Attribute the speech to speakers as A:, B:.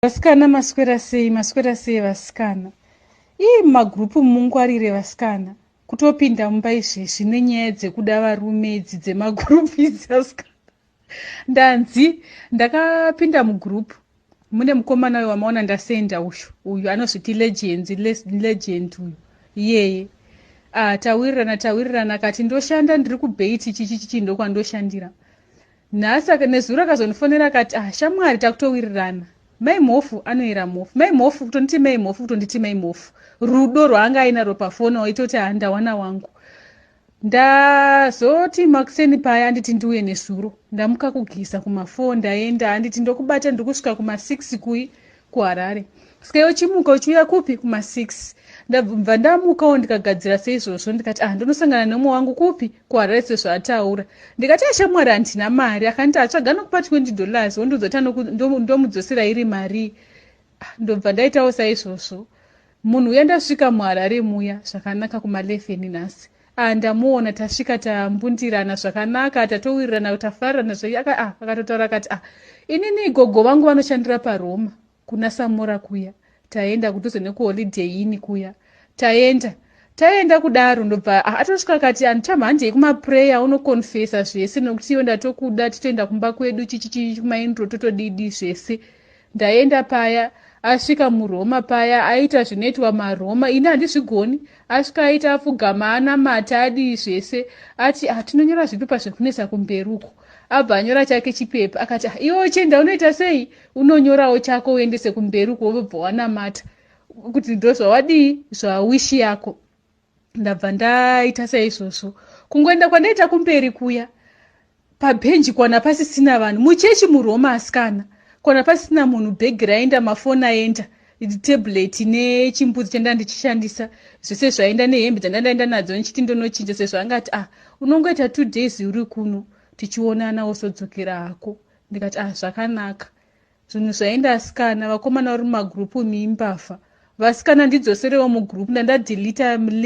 A: Vasikana maswera sei maswera sei vasikana ii mumagrupu mungwarire vasikana kutopinda mumba izvezvi nenyaya dzekuda varume idzi dzemagrupu idzi vasikana ndanzi ndakapinda mugrupu mune mukomana uyo wamaona ndasenda uyu uyu anozviti legend legend uyu iyeye ah, tawirirana tawirirana kati ndoshanda ndiri kubheti chichi chichi ndokwandoshandira nhasi aka nezuro akazondifonera akati ah shamwari takutowirirana mai mhofu anoyera mhofu mai mhofu kutonditi mai mhofu kutonditi mai mhofu rudo rwaanga ainaro pafoni waita kuti haa ndawana wangu ndazoti makuseni paya anditi ndiuye nezuro ndamuka kugisa kumafoo ndaenda anditi ndokubata ndiri kusvika kumasix kui kuharare ska iwe chimuka uchiuya kupi kuma6 ndabva ndamukawo ndikagadzira seizvozvo ndikati ah ndonosangana neumwe wangu kupi kuharare sezvaataura ndikati ashamwari ah, handina mari akanditi atsvaga ah, nokupa 20 dollars wondiudza kuti ndomudzosera iri marii ah, ndobva ndaitawo saizvozvo Munhu uya ndasvika muHarare muya zvakanaka kuma 11 nhasi ah ndamuona tasvika tambundirana zvakanaka tatowirirana tafarana zve aka ah akatotaura akati ah inini gogo vangu vanoshandira paRoma kuna Samora kuya taenda kudhuze nekuholiday ini kuya taenda taenda kudaro ndobva ah, atosvika akati andichamha handei kumaprayer unoconfesa zvese nokuti iwe ndatokuda titoenda kumba kwedu chichichi kumaindro totodidi zvese ndaenda paya asvika muroma paya aita zvinoitwa maroma ini handizvigoni asvika aita apfugama anamata adii zvese ati hatinonyora ah, zvipepa zvekunetsa kumberi uko abva anyora chake chipepa akati ah, iwe uchienda unoita sei unonyorawo chako uendese kumberi uko wobva wanamata kuti ndozvawadii zvawishi yako ndabva ndaita saizvozvo kungoenda kwandaita kumberi kuya pabhenji kwana pasisina vanhu muchechi muroma asikana kwana pasina munhu bhegi raenda mafoni aenda tablet nechimbuzi chanda ndichishandisa zvese zvaenda nehembe dzandandaenda nadzo ndichiti ndonochinja sezvo anga ati ah unongoita two days uri kuno tichionana wosodzokera hako ndikati ah zvakanaka Zvinhu zvaenda asikana vakomana vari mumagroup imi imbavha. Vasikana ndidzoserewo mugroup ndandadelita link